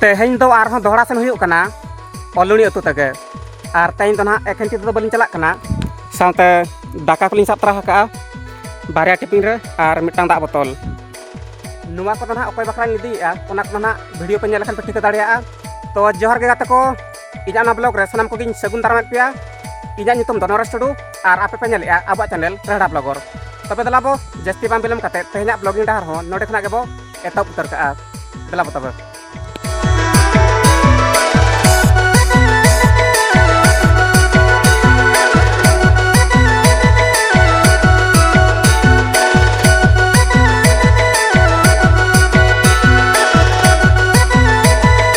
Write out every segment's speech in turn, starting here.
ᱛᱮᱦᱮᱧ ᱫᱚ ᱟᱨᱦᱚᱸ ᱫᱚᱦᱲᱟ ᱥᱮᱱ ᱦᱩᱭᱩᱜ ᱠᱟᱱᱟ ᱚᱞᱩᱲᱤ ᱟᱹᱛᱩ ᱛᱮᱜᱮ ᱟᱨ ᱛᱮᱦᱮᱧ ᱫᱚ ᱱᱟᱦᱟᱜ ᱮᱠᱷᱮᱱ ᱛᱤᱛᱮ ᱫᱚ ᱵᱟᱹᱞᱤᱧ ᱪᱟᱞᱟᱜ ᱠᱟᱱᱟ ᱥᱟᱶᱛᱮ ᱫᱟᱠᱟ ᱠᱚᱞᱤᱧ ᱥᱟᱵ ᱛᱟᱨᱟ ᱟᱠᱟᱜᱼᱟ ᱵᱟᱨᱭᱟ ᱴᱤᱯᱤᱱ ᱨᱮ ᱟᱨ ᱢᱤᱫᱴᱟᱝ ᱫᱟᱜ ᱵᱚᱛᱚᱞ ᱱᱚᱣᱟ ᱠᱚᱫᱚ ᱱᱟᱦᱟᱜ ᱚᱠᱚᱭ ᱵᱟᱠᱷᱨᱟᱧ ᱤᱫᱤᱭᱮᱜᱼᱟ ᱚᱱᱟ ᱠᱚᱫᱚ ᱱᱟᱦᱟᱜ ᱵᱷᱤᱰᱤᱭᱳ ᱯᱮ ᱧᱮᱞ ᱞᱮᱠᱷᱟᱱ ᱯᱮ ᱴᱷᱤᱠᱟᱹ ᱫᱟᱲᱮᱭᱟᱜᱼᱟ ᱛᱚ ᱡᱚᱦᱟᱨ ᱜᱮ ᱜᱟᱛᱮ ᱠᱚ ᱤᱧᱟᱹᱜ ᱱᱚᱣᱟ ᱵᱞᱚᱜ ᱨᱮ ᱥᱟᱱᱟᱢ ᱠᱚᱜᱮᱧ ᱥᱟᱹᱜᱩᱱ ᱫᱟᱨᱟᱢᱮᱫ ᱯᱮᱭᱟ ᱤᱧᱟᱹᱜ ᱧᱩᱛᱩᱢ ᱫᱚ ᱱᱚᱨᱮᱥ ᱴᱩᱰᱩ ᱟᱨ ᱟᱯᱮ ᱯᱮ ᱧᱮᱞᱮᱜᱼᱟ ᱟᱵᱚᱣᱟᱜ ᱪᱮᱱᱮᱞ ᱨᱮᱦᱲᱟ ᱵᱞᱚᱜᱚᱨ ᱛᱚᱵᱮ ᱫᱮᱞᱟ ᱵᱚ ᱡᱟᱹᱥᱛᱤ ᱵᱟᱝ ᱵᱤᱞᱚᱢ ᱠᱟᱛᱮ ᱛᱮᱦᱮᱧᱟᱜ ᱵᱞᱚᱜᱤᱝ ᱰᱟᱦᱟᱨ ᱦᱚᱸ ᱱᱚᱰᱮ ᱠᱷᱚᱱᱟᱜ ᱜᱮᱵᱚ ᱮᱛᱚᱦᱚᱵ ᱩᱛᱟᱹᱨ ᱠᱟᱜᱼᱟ ᱫᱮᱞᱟ ᱵᱚ ᱛᱚᱵᱮ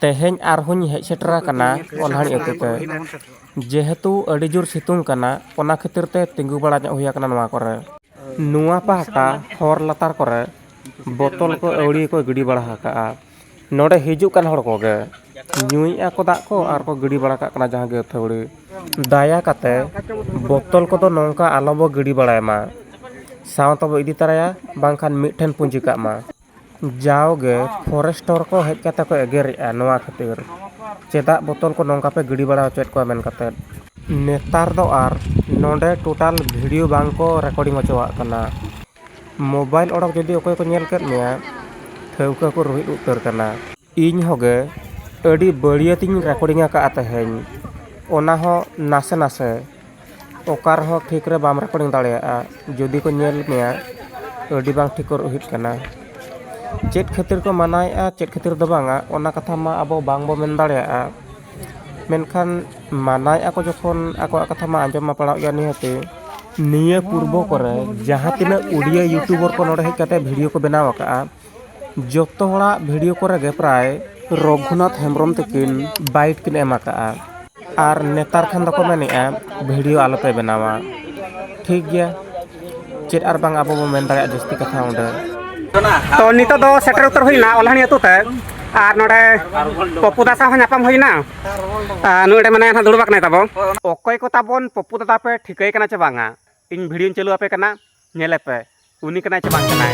ᱛᱮᱦᱮᱧ ᱟᱨᱦᱚᱸᱧ ᱦᱮᱡ ᱥᱮᱴᱮᱨ ᱟᱠᱟᱱᱟ ᱚᱞᱦᱟᱲᱤ ᱟᱹᱛᱩ ᱛᱮ ᱡᱮᱦᱮᱛᱩ ᱟᱹᱰᱤ ᱡᱳᱨ ᱥᱤᱛᱩᱝ ᱠᱟᱱᱟ ᱚᱱᱟ ᱠᱷᱟᱹᱛᱤᱨ ᱛᱮ ᱛᱤᱸᱜᱩ ᱵᱟᱲᱟ ᱧᱚᱜ ᱦᱩᱭ ᱟᱠᱟᱱᱟ ᱱᱚᱣᱟ ᱠᱚᱨᱮ ᱱᱚᱣᱟ ᱯᱟᱦᱴᱟ ᱦᱚᱨ ᱞᱟᱛᱟᱨ ᱠᱚᱨᱮ ᱵᱳᱛᱚᱞ ᱠᱚ ᱟᱹᱣᱲᱤ ᱠᱚ ᱜᱤᱰᱤ ᱵᱟᱲᱟ ᱟᱠᱟᱫᱼᱟ ᱱᱚᱰᱮ ᱦᱤᱡᱩᱜ ᱠᱟᱱ ᱦᱚᱲ ᱠᱚᱜᱮ ᱧᱩᱭᱮᱫᱼᱟ ᱠᱚ ᱫᱟᱜ ᱠᱚ ᱟᱨ ᱠᱚ ᱜᱤᱰᱤ ᱵᱟᱲᱟ ᱠᱟᱜ ᱠᱟᱱᱟ ᱡᱟᱦᱟᱸ ᱜᱮ ᱟᱹᱛᱷᱟᱹᱣᱲᱤ ᱫᱟᱭᱟ ᱠᱟᱛᱮ ᱵᱳᱛᱚᱞ ᱠᱚᱫᱚ ᱱᱚᱝᱠᱟ ᱟᱞᱚ ᱵᱚ ᱜᱤᱰᱤ ᱵᱟᱲᱟᱭ ᱢᱟ ᱥᱟᱶ ᱛᱮᱵᱚ ᱤᱫᱤ ᱛᱟᱨᱟᱭᱟ ᱵᱟᱝᱠᱷᱟᱱ ᱢᱤᱫ ᱴᱷᱮᱱ ᱯᱩᱸᱡᱤ ᱠᱟᱜ ᱢᱟ ᱡᱟᱣᱜᱮ ᱯᱷᱚᱨᱮᱥᱴᱚᱨ ᱠᱚ ᱦᱮᱡ ᱠᱟᱛᱮ ᱠᱚ ᱮᱜᱮᱨᱮᱜᱼᱟ ᱱᱚᱣᱟ ᱠᱷᱟᱹᱛᱤᱨ ᱪᱮᱫᱟᱜ ᱵᱳᱛᱚᱞ ᱠᱚ ᱱᱚᱝᱠᱟ ᱯᱮ ᱜᱤᱰᱤ ᱵᱟᱲᱟ ᱦᱚᱪᱚᱭᱮᱫ ᱠᱚᱣᱟ ᱢᱮᱱ ᱠᱟᱛᱮ ᱱᱮᱛᱟᱨ ᱫᱚ ᱟᱨ ᱱᱚᱰᱮ ᱴᱳᱴᱟᱞ ᱵᱷᱤᱰᱤᱭᱳ ᱵᱟᱝ ᱠᱚ ᱨᱮᱠᱳᱰᱤᱝ ᱦᱚᱪᱚᱣᱟᱜ ᱠᱟᱱᱟ ᱢᱳᱵᱟᱭᱤᱞ ᱚᱰᱚᱠ ᱡᱩᱫᱤ ᱚᱠᱚᱭ ᱠᱚ ᱧᱮᱞ ᱠᱮᱫ ᱢᱮᱭᱟ ᱴᱷᱟᱹᱣᱠᱟᱹ ᱠᱚ ᱨᱩᱦᱮᱫ ᱩᱛᱟᱹᱨ ᱠᱟᱱᱟ ᱤᱧ ᱦᱚᱸ ᱜᱮ ᱟᱹᱰᱤ ᱵᱟᱹᱲᱤᱭᱟᱹᱛ ᱤᱧ ᱨᱮᱠᱳᱰᱤᱝ ᱟᱠᱟᱫᱼᱟ ᱛᱮᱦᱮᱧ ᱚᱱᱟ ᱦᱚᱸ ᱱᱟᱥᱮ ᱱᱟᱥᱮ ᱚᱠᱟ ᱨᱮᱦᱚᱸ ᱴᱷᱤᱠ ᱨᱮ ᱵᱟᱢ ᱨᱮᱠᱳᱰᱤᱝ ᱫᱟᱲᱮᱭᱟᱜᱼᱟ ᱡᱩᱫᱤ ᱠᱚ ᱧᱮᱞ ᱢᱮᱭᱟ ᱟᱹᱰᱤ ᱵᱟᱝ ᱴᱷᱤᱠ ᱦᱩᱭᱩᱜ ᱠᱟᱱᱟ ᱪᱮᱫ ᱠᱷᱟᱹᱛᱤᱨ ᱠᱚ ᱢᱟᱱᱟᱭᱮᱫᱼᱟ ᱪᱮᱫ ᱠᱷᱟᱹᱛᱤᱨ ᱫᱚ ᱵᱟᱝᱟ ᱚᱱᱟ ᱠᱟᱛᱷᱟ ᱢᱟ ᱟᱵᱚ ᱵᱟᱝ ᱵᱚᱱ ᱢᱮᱱ ᱫᱟᱲᱮᱭᱟᱜᱼᱟ ᱢᱮᱱᱠᱷᱟᱱ ᱢᱟᱱᱟᱭᱮᱫᱼᱟ ᱠᱚ ᱡᱚᱠᱷᱚᱱ ᱟᱠᱚᱣᱟᱜ ᱠᱟᱛᱷᱟ ᱢᱟ ᱟᱸᱡᱚᱢ ᱢᱟ ᱯᱟᱲᱟᱜ ᱜᱮᱭᱟ ᱱᱤᱦᱟᱹᱛᱤ ᱱᱤᱭᱟᱹ ᱯᱩᱨᱵᱚ ᱠᱚᱨᱮ ᱡᱟᱦᱟᱸ ᱛᱤᱱᱟᱹᱜ ᱳᱰᱤᱭᱳ ᱤᱭᱩᱴᱩᱵᱟᱨ ᱠᱚ ᱱᱚᱰᱮ ᱦᱮᱡ ᱠᱟᱛᱮᱫ ᱵᱷᱤᱰᱤᱭᱳ ᱠᱚ ᱵᱮᱱᱟᱣ ᱟᱠᱟᱫᱼᱟ ᱡᱚᱛᱚ ᱦᱚᱲᱟᱜ ᱵᱷᱤᱰᱤᱭᱳ ᱠᱚᱨᱮ ᱜᱮ ᱯᱨᱟᱭ ᱨᱚᱜᱷᱩᱱᱟᱛᱷ ᱦᱮᱢᱵᱨᱚᱢ ᱛᱟᱹᱠᱤᱱ ᱵᱟᱭᱤᱴ ᱠᱤᱱ ᱮᱢ ᱟᱠᱟᱫᱼᱟ ᱟᱨ ᱱᱮᱛᱟᱨ ᱠᱷᱟᱱ ᱫᱚᱠᱚ ᱢᱮᱱᱮᱫᱼᱟ ᱵᱷᱤᱰᱤᱭᱳ ᱟᱞᱚ ᱯᱮ ᱵᱮᱱᱟᱣᱟ ᱴᱷᱤᱠ ᱜᱮᱭᱟ ᱪᱮᱫ ᱟᱨ ᱵᱟᱝ ᱟᱵᱚ ᱵᱚᱱ ᱢᱮᱱ ᱫᱟᱲᱮᱭᱟᱜᱼᱟ ᱡᱟᱹᱥᱛᱤ ᱠᱟᱛᱷᱟ ᱚᱸᱰᱮ ᱛᱚ ᱱᱤᱛᱚᱜ ᱫᱚ ᱥᱮᱴᱮᱨ ᱩᱛᱟᱹᱨ ᱦᱩᱭᱱᱟ ᱚᱞᱦᱟᱱᱤ ᱟᱹᱛᱩ ᱛᱮ ᱟᱨ ᱱᱚᱰᱮ ᱯᱚᱯᱩ ᱫᱟ ᱥᱟᱶ ᱦᱚᱸ ᱧᱟᱯᱟᱢ ᱦᱩᱭᱱᱟ ᱟᱨ ᱱᱚᱰᱮ ᱢᱟᱱᱮ ᱦᱟᱸᱜ ᱫᱩᱲᱩᱵ ᱟᱠᱟᱱᱟᱭ ᱛᱟᱵᱚ ᱚᱠᱚᱭ ᱠᱚ ᱛᱟᱵᱚᱱ ᱯᱚᱯᱩ ᱫᱟᱫᱟ ᱯᱮ ᱴᱷᱤᱠᱟᱹᱭ ᱠᱟᱱᱟ ᱪᱮ ᱵᱟᱝᱟ ᱤᱧ ᱵᱷᱤᱰᱤᱭᱳᱧ ᱪᱟᱹᱞᱩ ᱟᱯᱮ ᱠᱟᱱᱟ ᱧᱮᱞᱮ ᱯᱮ ᱩᱱᱤ ᱠᱟᱱᱟᱭ ᱪᱮ ᱵᱟᱝ ᱠᱟᱱᱟᱭ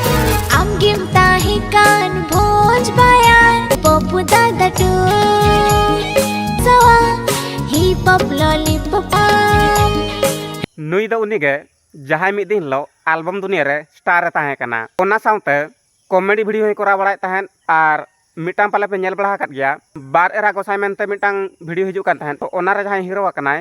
ᱟᱢᱜᱮᱢ ᱛᱟᱦᱮᱸ ᱠᱟᱱ ᱵᱷᱚᱸᱡᱽ ᱵᱟᱭᱟᱨ ᱯᱚᱯ ᱫᱟᱫᱟ ᱴᱩ ᱥᱚᱣᱟ ᱦᱤᱯ ᱦᱚᱯ ᱞᱚᱞᱤᱯᱚᱯ ᱟᱢ ᱱᱩᱭ ᱫᱚ ᱩᱱᱤ ᱜᱮ ᱡᱟᱦᱟᱸᱭ ᱢᱤᱫ ᱫᱤᱱ ᱦᱤᱞᱳᱜ ᱟᱞᱵᱚᱢ ᱫᱩᱱᱤᱭᱟᱹ ᱨᱮ ᱥᱴᱟᱨ ᱮ ᱛᱟᱦᱮᱸ ᱠᱟᱱᱟ ᱚᱱᱟ ᱥᱟᱶᱛᱮ ᱠᱚᱢᱮᱰᱤ ᱵᱷᱤᱰᱤᱭᱳ ᱦᱚᱸᱭ ᱠᱚᱨᱟᱣ ᱵᱟᱲᱟᱭᱮᱫ ᱛᱟᱦᱮᱸᱫ ᱟᱨ ᱢᱤᱫᱴᱟᱝ ᱯᱟᱞᱮ ᱯᱮ ᱧᱮᱞ ᱵᱟᱲᱟ ᱟᱠᱟᱫ ᱜᱮᱭᱟ ᱵᱟᱨ ᱮᱨᱟ ᱜᱚᱸᱥᱟᱭ ᱢᱮᱱᱛᱮ ᱢᱤᱫᱴᱟᱝ ᱵᱷᱤᱰᱤᱭᱳ ᱦᱤᱡᱩᱜ ᱠᱟᱱ ᱛᱟᱦᱮᱸᱫ ᱛᱚ ᱚᱱᱟᱨᱮ ᱡᱟᱦᱟᱸᱭ ᱦᱤᱨᱳ ᱟᱠᱟᱱᱟᱭ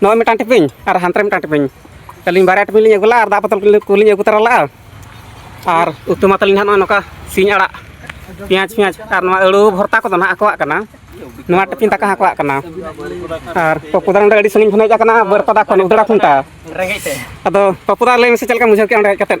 ᱱᱚᱜᱼᱚᱭ ᱢᱤᱫᱴᱟᱝ ᱴᱤᱯᱤᱧ ᱟᱨ ᱦᱟᱱᱛᱮ ᱨᱮ ᱢᱤᱫᱴᱟᱝ ᱴᱤᱯᱤᱧ ᱟᱹᱞᱤᱧ ᱵᱟᱨᱭᱟ ᱴᱤᱯᱤᱧ ᱞᱤᱧ ᱟᱹᱜᱩ ᱞᱟᱜᱼᱟ ᱟᱨ ᱫᱟᱜ ᱵᱚᱛᱚᱞ ᱠᱚᱞᱤᱧ ᱟᱹᱜᱩ ᱛᱚᱨᱟ ᱞᱟᱜᱼᱟ ᱟᱨ ᱩᱛᱩ ᱢᱟ ᱛᱟᱹᱞᱤᱧ ᱦᱟᱸᱜ ᱱᱚᱜᱼᱚᱭ ᱱᱚᱝᱠᱟ ᱥᱤᱧ ᱟᱲᱟᱜ ᱯᱮᱸᱭᱟᱡᱽ ᱯᱮᱸᱭᱟᱡᱽ ᱟᱨ ᱱᱚᱣᱟ ᱟᱹᱲᱩ ᱵᱷᱚᱨᱛᱟ ᱠᱚᱫᱚ ᱱᱟᱦᱟᱜ ᱟᱠᱚᱣᱟᱜ ᱠᱟᱱᱟ ᱱᱚᱣᱟ ᱴᱤᱯᱤᱧ ᱫᱟᱠᱟ ᱦᱚᱸ ᱟᱠᱚᱣᱟᱜ ᱠᱟᱱᱟ ᱟᱨ ᱯᱚᱯᱩᱫᱟ ᱱᱚᱰᱮ ᱟᱹᱰᱤ ᱥᱟᱺᱜᱤᱧ ᱠᱷᱚᱱ ᱦᱮᱡ ᱟᱠᱟᱱᱟ ᱵᱟᱹᱨᱯᱟᱫᱟ ᱠᱷᱚᱱ ᱩᱫᱟᱹᱲᱟ ᱠᱷᱩᱱᱴᱟ ᱟᱫᱚ ᱯᱚᱯᱩᱫᱟ ᱞᱟᱹᱭ ᱢᱮᱥᱮ ᱪᱮᱫ ᱞᱮᱠᱟᱢ ᱵᱩᱡᱷᱟᱹᱣ ᱠᱮᱫᱼᱟ ᱚᱸᱰᱮ ᱦᱮᱡ ᱠᱟᱛᱮᱫ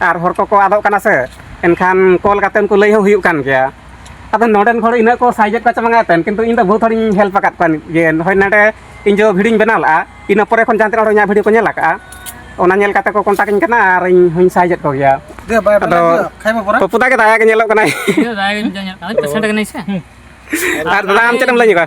ᱟᱨ ᱦᱚᱲ ᱠᱚᱠᱚ ᱟᱫᱚᱜ ᱠᱟᱱᱟ ᱥᱮ ᱮᱱᱠᱷᱟᱱ ᱠᱚᱞ ᱠᱟᱛᱮ ᱩᱱᱠᱩ ᱞᱟᱹᱭ ᱦᱚᱸ ᱦᱩᱭᱩᱜ ᱠᱟᱱ ᱜᱮᱭᱟ ᱟᱫᱚ ᱱᱚᱰᱮᱱ ᱦᱚᱲ ᱤᱱᱟᱹᱜ ᱠᱚ ᱥᱟᱭᱡᱮᱫ ᱠᱚ ᱪᱟᱵᱟᱝᱟ ᱮᱱᱛᱮ ᱠᱤᱱᱛᱩ ᱤᱧ ᱫᱚ ᱵᱚᱦᱩᱛ ᱦᱚᱲᱤᱧ ᱦᱮᱞᱯ ᱟᱠᱟᱫ ᱠᱚᱣᱟ ᱡᱮ ᱦᱳᱭ ᱱᱚᱰᱮ ᱤᱧ ᱡᱚ ᱵᱷᱤᱰᱤᱭᱳᱧ ᱵᱮᱱᱟᱣ ᱞᱮᱫᱼᱟ ᱤᱱᱟᱹ ᱯᱚᱨᱮ ᱠᱷᱚᱱ ᱡᱟᱦᱟᱸ ᱛᱤᱱᱟᱹᱜ ᱦᱚᱲ ᱤᱧᱟᱹᱜ ᱵᱷᱤᱰᱤᱭᱳ ᱠᱚ ᱧᱮᱞ ᱟᱠᱟᱫᱼᱟ ᱚᱱᱟ ᱧᱮᱞ ᱠᱟᱛᱮ ᱠᱚ ᱠᱚᱱᱴᱟᱠ ᱤᱧ ᱠᱟᱱᱟ ᱟᱨ ᱤᱧ ᱦᱚᱧ ᱥᱟᱭᱡᱮᱫ ᱠᱚ ᱜᱮᱭᱟ ᱟᱫᱚ ᱯᱚᱯᱩ ᱫᱟ ᱜᱮ ᱫᱟᱭᱟ ᱜᱮ ᱧᱮᱞᱚᱜ ᱠᱟᱱᱟᱭ ᱫᱟᱭᱟ ᱜᱮ ᱧᱮᱞᱚᱜ ᱠᱟᱱᱟᱭ ᱯᱮᱥᱮᱱᱴ ᱠᱟᱱᱟᱭ ᱥᱮ ᱟᱨ ᱫᱟᱫᱟ ᱟᱢ ᱪᱮᱫ ᱮᱢ ᱞᱟᱹᱭ ᱧᱚᱜᱟ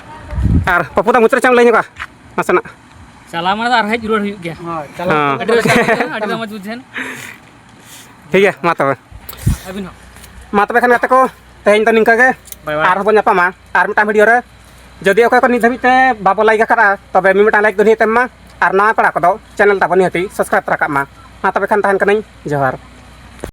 ᱟᱨ ᱯᱟᱯᱩ ᱫᱟ ᱢᱩᱪᱟᱹᱫ ᱪᱟᱢ ᱞᱟᱹᱭ ᱧᱚᱜᱟ ᱱᱟᱥᱮᱱᱟᱜ ᱪᱟᱞᱟᱣ ᱢᱟᱱᱮ ᱟᱨ ᱦᱮᱡ ᱨᱩᱣᱟᱹᱲ ᱦᱩᱭᱩᱜ ᱜᱮᱭᱟ ᱦᱳᱭ ᱪᱟᱞᱟᱣ ᱟᱹᱰᱤ ᱨᱟᱹᱥᱠᱟᱹ ᱵᱩᱡᱷᱟᱹᱣ ᱟᱹᱰᱤ ᱢᱚᱡᱽ ᱵᱩᱡᱷᱟᱹᱣ ᱴᱷᱤᱠ ᱜᱮᱭᱟ ᱢᱟ ᱛᱚᱵᱮ ᱟᱹᱵᱤᱱ ᱦᱚᱸ ᱢᱟ ᱛᱚᱵᱮ ᱠᱷᱟᱱ ᱜᱟᱛᱮ ᱠᱚ ᱛᱮᱦᱮᱧ ᱫᱚ ᱱᱤᱝᱠᱟᱹ ᱜᱮ ᱟᱨᱦᱚᱸ ᱵᱚᱱ ᱧᱟᱯᱟᱢᱟ ᱟᱨ ᱢᱤᱫᱴᱟᱝ ᱵᱷᱤᱰᱤᱭᱳ ᱨᱮ ᱡᱩᱫᱤ ᱚᱠᱚᱭ ᱠᱚ ᱱᱤᱛ ᱫᱷᱟᱹᱵᱤᱡ ᱛᱮ ᱵᱟᱵᱚ ᱞᱟᱭᱤᱠ ᱟᱠᱟᱫᱼᱟ ᱛᱚᱵᱮ ᱢᱤᱢᱤᱫᱴᱟᱝ ᱞᱟᱭᱤᱠ ᱫᱚ ᱱᱤᱦᱟᱹᱛ ᱮᱢ ᱢᱟ ᱟᱨ ᱱᱟᱣᱟ ᱯᱮᱲᱟ ᱠᱚᱫᱚ ᱪᱮᱱᱮᱞ ᱛᱟᱵᱚᱱ ᱱᱤᱦᱟᱹᱛᱤ ᱥᱟᱵᱥᱠᱨᱟᱭᱤᱵ ᱛᱚᱨᱟ ᱠᱟᱜ ᱢᱟ ᱢᱟ ᱛᱚᱵᱮ ᱠᱷᱟᱱ ᱛᱟᱦᱮᱱ ᱠᱟᱹᱱᱟᱹᱧ ᱡᱚᱦᱟᱨ